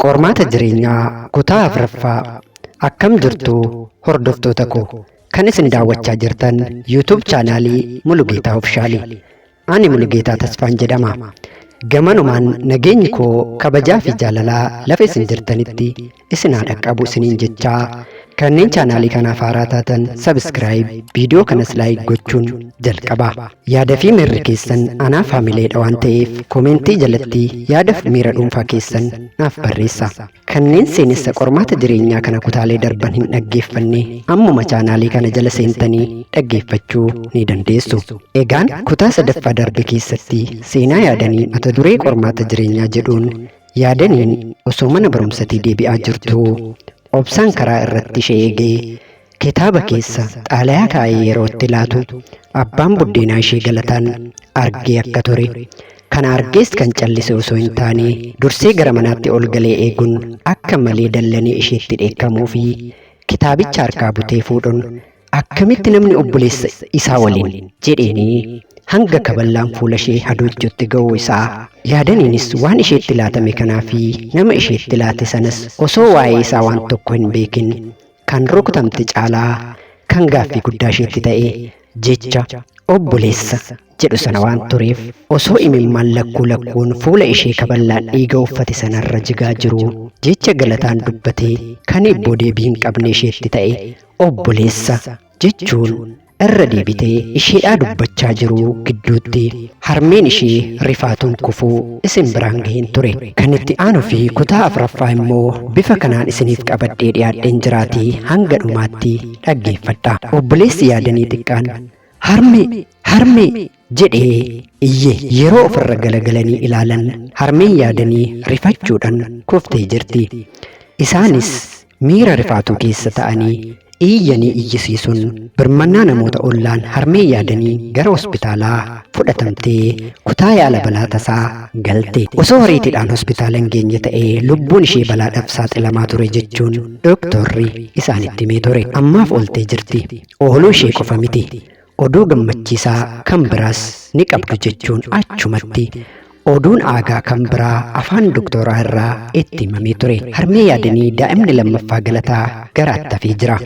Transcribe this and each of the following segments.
Qormaata Jireenyaa Kutaa 4ffaa Akkam jirtu hordoftoota koo kan isin daawwachaa jirtan YouTube chaanaalii Mulugeetaa Ofishaalii. Ani Mulugeetaa Tasfaan jedhama. Gamanumaan nageenyi koo kabajaa fi jaalalaa lafa isin jirtanitti isin haa dhaqqabu isiniin jechaa Kanneen chaanaalii kanaaf haaraa taatan subscribe, viidiyoo kanas like gochuun jalqabaa. Yaada fi miirri keessan anaaf hamileedha waan ta'eef komentii jalatti yaada fi miira dhuunfaa keessan naaf barreessa. Kanneen seenessa qormaata jireenyaa kana kutaalee darban hin dhaggeeffanne ammuma chaanaalii kana jala seentanii dhaggeeffachuu ni dandeessu. Egaan kutaa sadaffaa darbe keessatti seenaa yaadanii mata duree qormaata jireenyaa jedhuun Yaadaniin osoo mana barumsatii deebi'aa jirtuu obsaan karaa irratti ishee eegee kitaaba keessa xaalayaa kaa'ee yeroo itti laatu abbaan buddeenaa ishee galataan argee akka ture kana argees kan callise osoo hin taane dursee gara manaatti ol galee eeguun akka malee dallanee isheetti dheekkamuu fi kitaabicha harkaa butee fuudhuun Akkamitti namni obboleessa isaa waliin jedheenii hanga kaballaan fuula ishee hadoojjutti ga'uu isaa yaadaniinis waan isheetti laatame kanaa fi nama isheetti laate sanas osoo waa'ee isaa waan tokko hin beekin kan rukutamte caalaa kan gaaffii guddaa isheetti ta'e jecha obboleessa jedhu sana waan tureef osoo imimmaan lakkuu lakkuun fuula ishee kaballaan dhiiga uffate sanarra jigaa jiru jecha galataan dubbatee kan hibboo deebii hin qabne isheetti ta'e Obboleessa jechuun irra deebitee isheedhaa dubbachaa jiruu gidduutti harmeen ishee rifaatuun kufuu isin biraan gaheen ture. Kan itti aanuu fi kutaa afraffaa immoo bifa kanaan isiniif qabadhee dhiyaadheen jiraatii hanga dhumaatti dhaggeeffadha. Obboleessi yaadanii xiqqaan harmee! Harmee! jedhee iyye yeroo ofirra galagalanii ilaalan harmeen yaadanii rifachuudhaan kuftee jirti. Isaanis miira rifaatuu keessa ta'anii iyyanii iyyisiisuun birmannaa namoota ollaan harmee yaadanii gara hospitaalaa fudhatamtee kutaa yaala balaa tasaa galte. Osoo horiitiidhaan hospitaala hin geenye ta'ee lubbuun ishee balaadhaaf saaxilamaa ture jechuun doktorri isaanitti himee ture. Ammaaf ooltee jirti. Ooluu ishee qofa miti. Oduu gammachiisaa kan biraas ni qabdu jechuun achumatti oduun aagaa kan biraa afaan doktooraa irraa itti himamee ture. Harmee yaadanii daa'imni lammaffaa galataa garaatti hafee jira.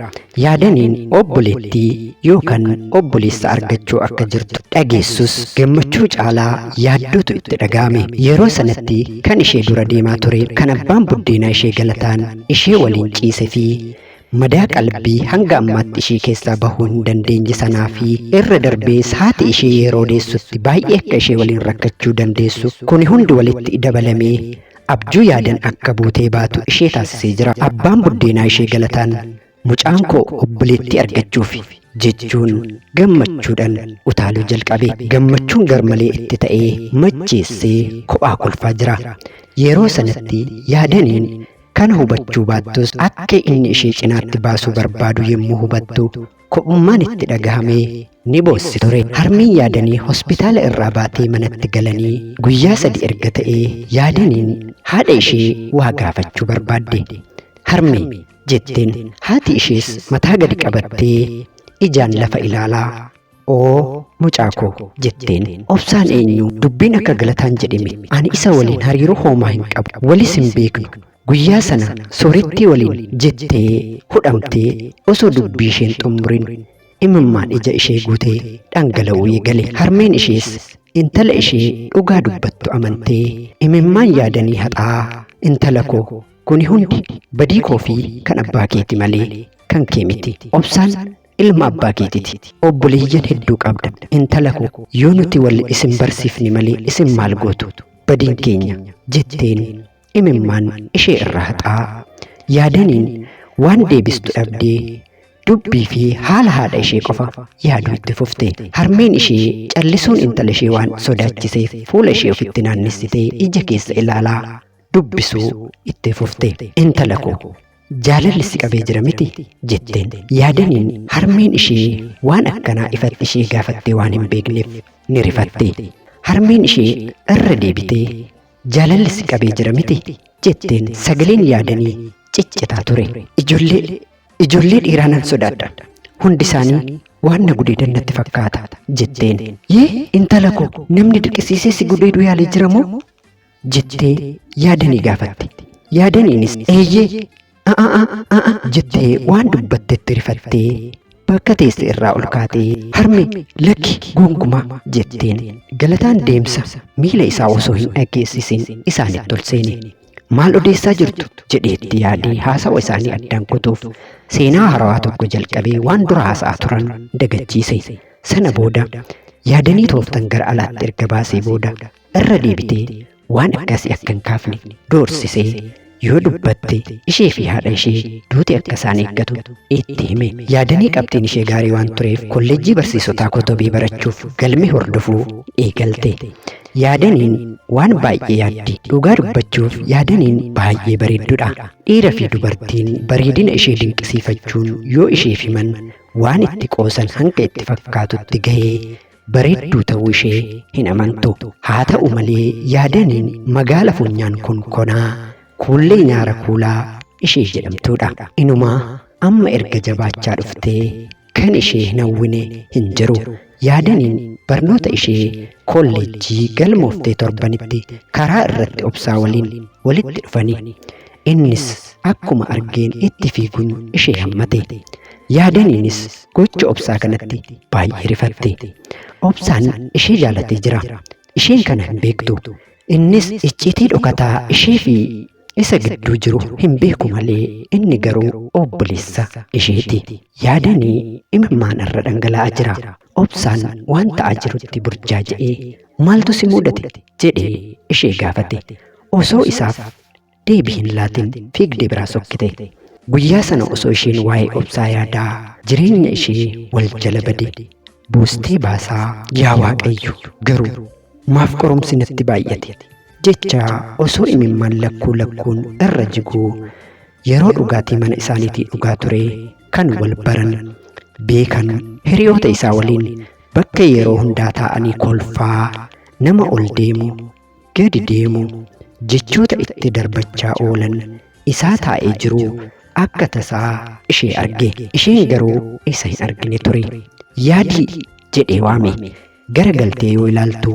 Yaadaniin obboleettii yookaan obboleessa argachuu akka jirtu dhageessus gammachuu caalaa yaaddootu itti dhaga'ame. Yeroo sanatti kan ishee dura deemaa ture kan abbaan buddeenaa ishee galataan ishee waliin ciise fi Madaa qalbii hanga ammaatti ishii keessaa bahuu hin dandeenye sanaa fi irra darbees haati ishii yeroo deessutti baay'ee akka ishee waliin rakkachuu dandeessu kuni hundi walitti dabalamee abjuu yaadan akka buutee baatu ishee taasisee jira. Abbaan buddeenaa ishee galataan mucaan koo obboleettii argachuuf jechuun gammachuudhan utaaluu jalqabe. Gammachuun garmalee itti ta'ee macheessee kophaa kolfaa jira. Yeroo sanatti yaadaniin Kana hubachuu baattus akka inni ishee cinaatti baasuu barbaadu yommuu hubattu kophummaan itti dhagahamee ni boossi ture. Harmeen yaadanii hospitaala irraa baatee manatti galanii guyyaa sadi erga ta'ee yaadaniin haadha ishee waa gaafachuu barbaadde. Harmee jetteen haati ishees mataa gadi qabattee ijaan lafa ilaalaa. Oo mucaa koo jetteen obsaan eenyu dubbiin akka galataan jedhime ani isa waliin hariiroo hoomaa hin qabu walis hin beeknu guyyaa sana soorettii waliin jettee hudhamtee osoo dubbii isheen xumurin imimmaan ija ishee guutee dhangala'uu eegale harmeen ishees intala ishee dhugaa dubbattu amantee imimmaan yaadanii haxaa intala koo kuni hundi badii koo fi kan abbaa keeti malee kan kee miti obsaan ilma abbaa keetiti. Obboleeyyan hedduu qabda. Intala ko yoo nuti wal isin barsiifne malee isin maal gootu? Badiin keenya jetteen imimmaan ishee irraa haxaa. Yaadaniin waan deebistu dhabdee dubbii fi haala haadha ishee qofa yaaduu itti fufte. Harmeen ishee callisuun intala ishee waan sodaachiseef fuula ishee ofitti naannessitee ija keessa ilaalaa dubbisuu itti fufte. Intala ko Jaalalli si qabee jira miti? jetteen. Yaadaniin harmeen ishee waan akkanaa ifatti ishee gaafattee waan hin beekneef ni rifatte. Harmeen ishee irra deebitee jaalalli si qabee jira miti? jetteen sagaleen yaadanii ciccitaa ture. Ijoollee ijoollee dhiiraa nan sodaadha. Hundi isaanii waan na gudeedan natti fakkaata jetteen. Yee intala koo namni dirqisiisee si gudeeduu yaalee jira moo? jettee yaadanii gaafatte. Yaadaniinis eeyyee a'a a'a a'a jettee waan dubbattetti rifattee bakka teesse irraa ol kaatee harme lakki gonkumaa jetteen galataan deemsa miila isaa osoo hin dhageessisin isaanitti ol seene. Maal odeessaa jirtu jedheetti yaadee haasawa isaanii addaan kutuuf seenaa haarawaa tokko jalqabee waan dura haasa'aa turan dagachiise. Sana booda yaadanii tooftan gara alaatti erga baasee booda irra deebitee waan akkasii akka hin kaafne doorsisee yoo dubbatte ishee fi haadha ishee duuti akka isaan eeggatu itti hime. Yaadanii qabxiin ishee gaarii waan tureef kolleejjii barsiisotaa kotobee barachuuf galme hordofuu eegalte. Yaadaniin waan baay'ee yaaddi. Dhugaa dubbachuuf yaadaniin baay'ee bareeddudha. Dhiira fi dubartiin bareedina ishee dinqisiifachuun yoo isheef himan waan itti qoosan hanga itti fakkaatutti gahee Bareedduu ta'uu ishee hin amantu. Haa ta'u malee yaadaniin magaala funyaan kun konaa kuullee nyaara kuulaa ishee jedhamtuudha. Inumaa amma erga jabaachaa dhuftee kan ishee hin hawwine hin jiru. Yaadaniin barnoota ishee kolleejjii galmooftee torbanitti karaa irratti obsaa waliin walitti dhufani. Innis akkuma argeen itti fiiguun ishee hammate. Yaadaniinis gocha obsaa kanatti baay'ee rifatte. Obsaan ishee jaalatee jira. Isheen kana hin beektu. Innis icciitii dhokataa ishee fi isa gidduu jiru hin beeku malee inni garuu obboleessa isheeti. Yaadanii imimmaan irra dhangala'aa jira. Obsaan waan ta'aa jirutti burjaaja'ee maaltu si mudate jedhee ishee gaafate. Osoo isaaf Deebii hin laatin fiigdee biraa sokkite. Guyyaa sana osoo isheen waa'ee obsaa yaadaa jireenya ishee wal jala bade buustee baasaa yaa waaqayyo garuu maaf qorumsi natti baay'ate jecha osoo imimmaan lakkuu lakkuun irra jiguu yeroo dhugaatii mana isaaniitii dhugaa ture kan wal baran beekan hiriyoota isaa waliin bakka yeroo hundaa taa'anii kolfaa nama ol deemu gadi deemu jechoota itti darbachaa oolan isaa taa'ee jiru akka tasaa ishee arge isheen garuu isa hin argine ture yaadii jedhee waame gara galtee yoo ilaaltu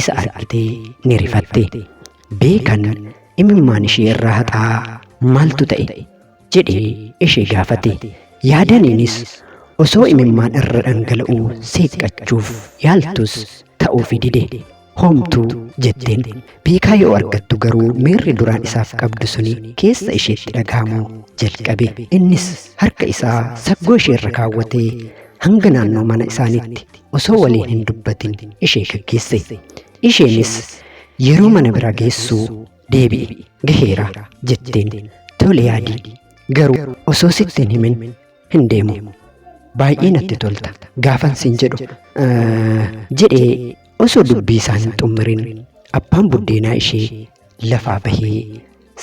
isa argitee ni rifatte beekan imimmaan ishee irraa haxaa maaltu ta'e jedhee ishee gaafate. Yaadaniinis osoo imimmaan irra dhangala'uu seeqqachuuf yaaltus ta'uufi dide. Homtuu jetteen. Beekaa yoo argattu garuu miirri duraan isaaf qabdu suni keessa isheetti dhagahamuu jalqabe. Innis harka isaa saggoo ishee irra kaawwatee hanga naannoo mana isaaniitti osoo waliin hin dubbatin ishee gaggeesse. Isheenis yeroo mana bira geessu deebi'i gaheera jetteen tole yaadii garuu osoo sitti hin himin hin deemu baay'ee natti tolta gaafan siin jedhu eh, jedhee osoo dubbii isaa hin xummirin abbaan buddeenaa ishee lafaa bahee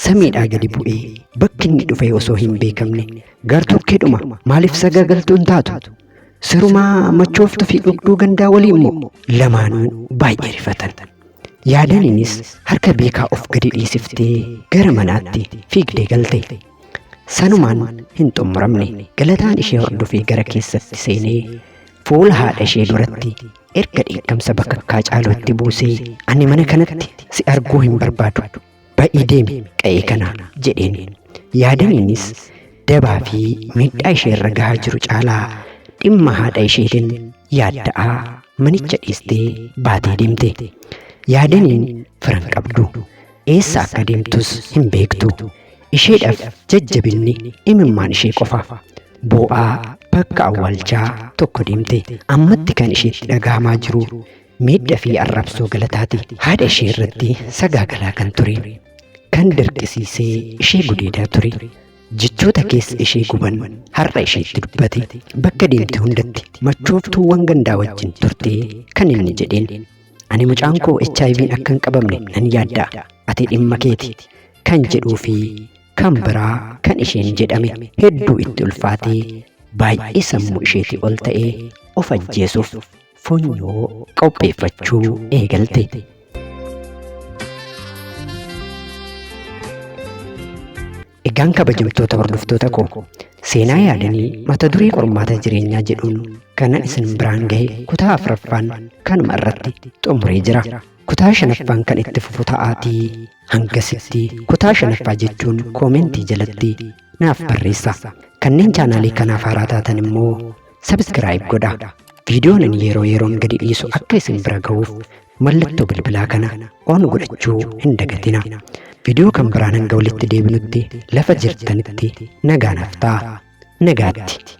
samiidhaa gadi bu'ee bakki inni dhufee osoo hin beekamne gartokkeedhuma maaliif sagagaltuun taatu sirumaa machooftu fi dhugduu gandaa walii immoo lamaanuu baay'ee rifatan. Yaadaniinis harka beekaa of gadi dhiisiftee gara manaatti fiigdee galte. Sanumaan hin xumuramne. Galataan ishee hordofee gara keessatti seenee fuula haadha ishee duratti erga dheekkamsa bakakkaa caalu itti buusee ani mana kanatti si arguu hin barbaadu. Ba'ii deemi qa'ee kanaa jedheen. Yaadaniinis dabaa fi miidhaa ishee irra gahaa jiru caalaa dhimma haadha isheetiin yaadda'aa manicha dhiistee baatee deemte. Yaadaniin firan qabdu. Eessa akka deemtus hin beektu. Isheedhaaf jajjabinni imimmaan ishee qofa. Boo'aa bakka awwaalchaa tokko deemte. Ammatti kan isheetti dhagahamaa jiru miidha fi arrabsoo galataati haadha ishee irratti sagaagalaa kan ture kan dirqisiisee ishee gudeedaa ture jechoota keessa ishee guban har'a isheetti dubbate bakka deemte hundatti machooftuuwwan gandaa wajjin turte kan inni jedheen ani mucaan koo HIV'n akka hin qabamne nan yaadda ati dhimma keeti kan jedhuu fi kan biraa kan isheen jedhame hedduu itti ulfaatee baay'ee sammuu isheetii ol ta'ee of ajjeesuuf funyoo qopheeffachuu eegalte. Egaan kabajamtoota hordoftoota koo seenaa yaadanii mata duree qormaata jireenyaa jedhuun kanan isin biraan gahe kutaa afraffaan kanuma irratti xumuree jira. Kutaa shanaffaan kan itti fufu ta'aatii hangasitti kutaa shanaffaa jechuun koomentii jalatti naaf barreessa. Kanneen chaanaalii kanaaf haaraa taatan immoo Subscribe godha. Viidiyoon ani yeroo yeroon gadi dhiisu akka isin bira ga'uuf mallattoo bilbilaa kana on godhachuu hin dagatina. Viidiyoo kan biraan hanga walitti deebinutti lafa jirtanitti nagaan haftaa. Nagaatti.